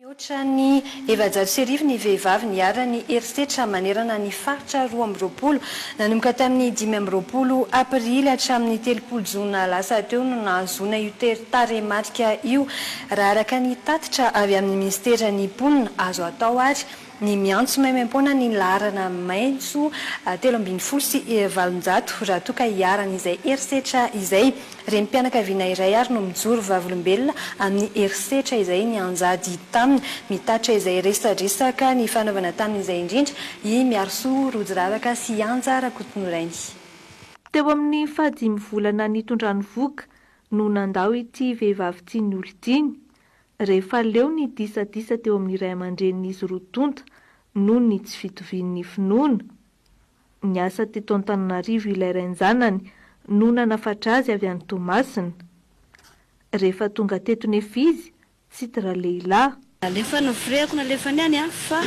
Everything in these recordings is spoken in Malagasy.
Mihoatra ny efajato sy arivo ny vehivavy niharan'ny herisetra manerana ny faritra roa amby roapolo. Nanomboka tamin'ny dimy amby roapolo aprily hatramin'ny telopolo jona lasa teo no nahazoana io teri-tarehimarika io, raha araka ny tatitra avy amin'ny minisiteran'ny mponina. Azo atao àry. Ny miantso maimaim-poana ny laharana maitso telo ambin'ny folo sy valonjato raha toa ka iharan'izay herisetra izay. Renim-pianakaviana iray àry no mijoro vavolombelona amin'ny herisetra izay nianjady taminy. Mitatitra izay resadresaka nifanaovana tamin'izay indrindra i Miarisoa Rojiravaka sy Anja Rakotonorainy. Teo amin'ny fahadimy volana nitondrany vohoka no nandao ity vehivavy tian'olon-tiany, rehefa leo ny disadisa teo amin'ny ray aman-drenin'izy roa tonta noho ny tsy fitovian'ny finoana. Niasa teto Antananarivo ilay rain-janany no nanafatra azy avy any Toamasina. Rehefa tonga teto nefa izy, tsy tra lehilahy. Nalefa novirihako nalefany any an, fa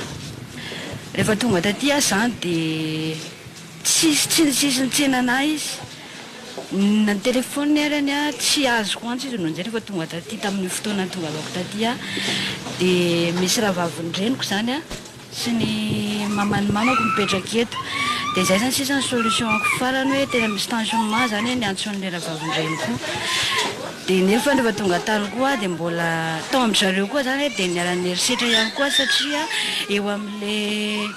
rehefa tonga taty aho izany dia. Tsisy tsinotsisiny tsy nanahy izy. Nitelefôniny ary any aho, tsy azoko antso izy no nijery fa tonga taty tamin'io fotoana nitongalako taty aho. Dia misy rahavavin-dreniko izany sy ny maman'ny mamako mipetraka eto. Dia izay izany sisa ny solution-ko farany hoe tena misy tensionement izany ny antson'ilay rahavavin-dreniko io. Dia nefa rehefa tonga tany koa aho dia mbola tao amin-dry zareo koa izany dia niara-niherisetra ihany koa aho satria eo amin'ilay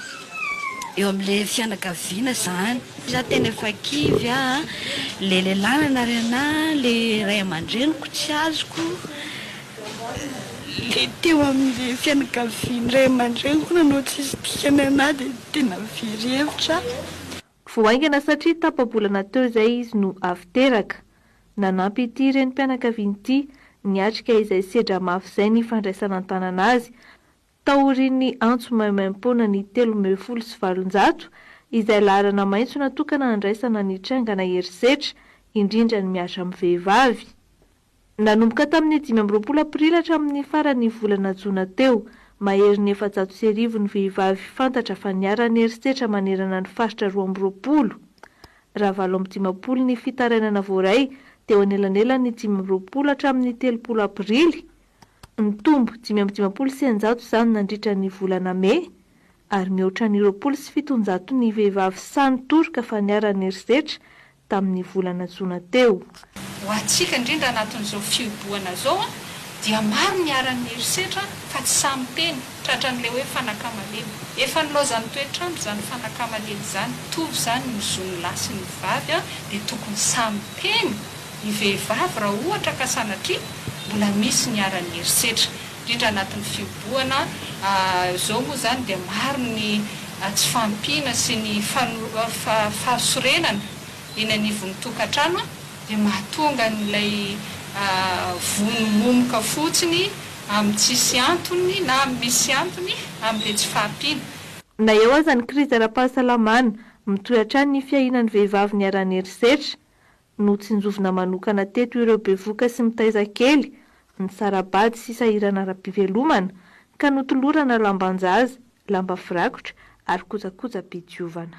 Eo amle fianakaviana zany. Za tena efa kivy a, le lehilahy nanary anà, le ray aman-dreniko tsy azoko, le teo amle fianakavian'ny ray aman-dreniko koa nanao tsisy dikany anà de tena very hevitra aho. Vao haingana satria tapa-bolana teo izay izy no avy teraka. Nanampy ity renim-pianakaviana ity niatrika izay sedra mafy izay ny fandraisana an-tanana azy Taorian'ny antso maimaimpoana ny telo ambin'ny folo sy valonjato, izay laharana maitso natokana handraisana ny trangana herisetra, indrindra ny miasa amin'ny vehivavy. Nanomboka tamin'ny dimy amby roapolo aprily hatramin'ny faran'ny volana jona teo, maherin'ny efajato sy arivo ny vehivavy fantatra fa niharan'ny herisetra manerana ny faritra roa amby roapolo, raha valo amby dimampolo ny fitarainana voaray teo anelanelan'ny dimy amby roapolo hatramin'ny telopolo aprily, Nitombo dimy amby dimampolo sy eninjato izany nandritra ny volana Mey, ary mihoatra ny roapolo sy fitonjato ny vehivavy sahy nitoroka fa niharan'ny herisetra tamin'ny volana jona teo. Ho antsika indrindra anatin'izao fihibohana izao dia maro ny niharan'ny herisetra fa tsy sahy miteny, tratran'ilay hoe fanakama lena. Efa nilaozan'ny toetr'andro izany fanakama lena izany, mitovy izany ny zon'ny lahy sy ny vavy dia tokony sahy miteny, ny vehivavy raha ohatra ka sanatria mbola misy niharan'ny herisetra indrindra anatin'ny fihobohana izao moa izany dia maro ny tsy fahampiana sy ny fahasorenana eny anivon'ny tokantrano dia mahatonga an'ilay vono momoka fotsiny amin'ny tsisy antony na amin'ny misy antony amin'ilay tsy fahampiana. Na eo aza ny krizy ara-pahasalamana, mitohy hatrany ny fiahiana ny vehivavy niharan'ny herisetra. Notsinjovina manokana teto ireo bevoka sy mitaiza kely, ny sara-bady sy sahirana ara-pivelomana, ka notolorana lamban-jaza, lamba firakotra ary kojakoja-pidiovana.